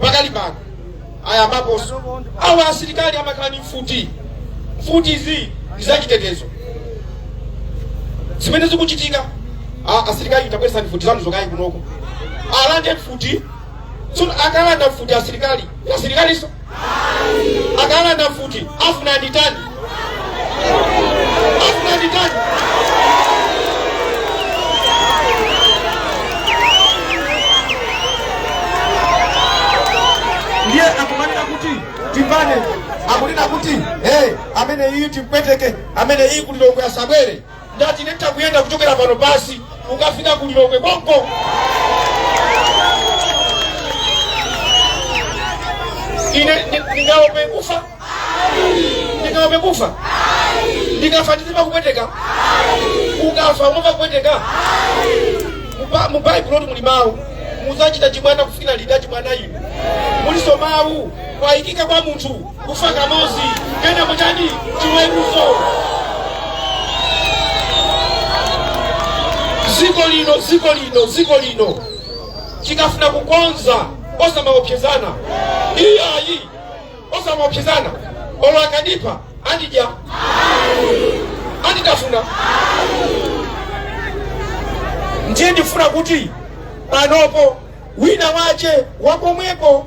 pakali pano ayambapo awa asilikali amakhala ndi mfuti mfuti izi ndi zachitetezo zimene zikuchitika a- asilikali tabweresa mfuti zanu zokayi kunoko alande mfuti tsono akalanda mfuti asilikali asilikaliso akalanda mfuti afuna nditani afuna nditani ndiye akumanena kuti timbane akunena kuti hey, amene iyi timpweteke amene iyi kulilongwe asabwere Ndati nitha kuyenda kuchokera pano basi kukafika ku Lilongwe konko. Ine ni- ningaope kufa? Ningaope kufa? Ndikafa ndizimva kupweteka? Ukafa umamva kupweteka? Muba- Mu Bible muli mawu muzachita chibwana kufikira liti achibwana inu muliso mawu kwayikika kwa munthu kufa kamozi kenako kutani chiweruzo ziko lino ziko lino ziko lino tikufuna kukonza osamaopsezana iyayi osamaopsezana olo akandipha andidya anditafuna ndiye ndifuna kuti panopo wina wache wakomweko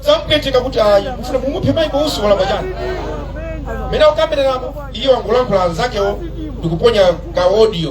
zamupweteka kuti ayi mufuna mumuphe maiko usi walakwa chani amene akukambiranapo iye wangolankhula anzakewo ndikuponya ka audio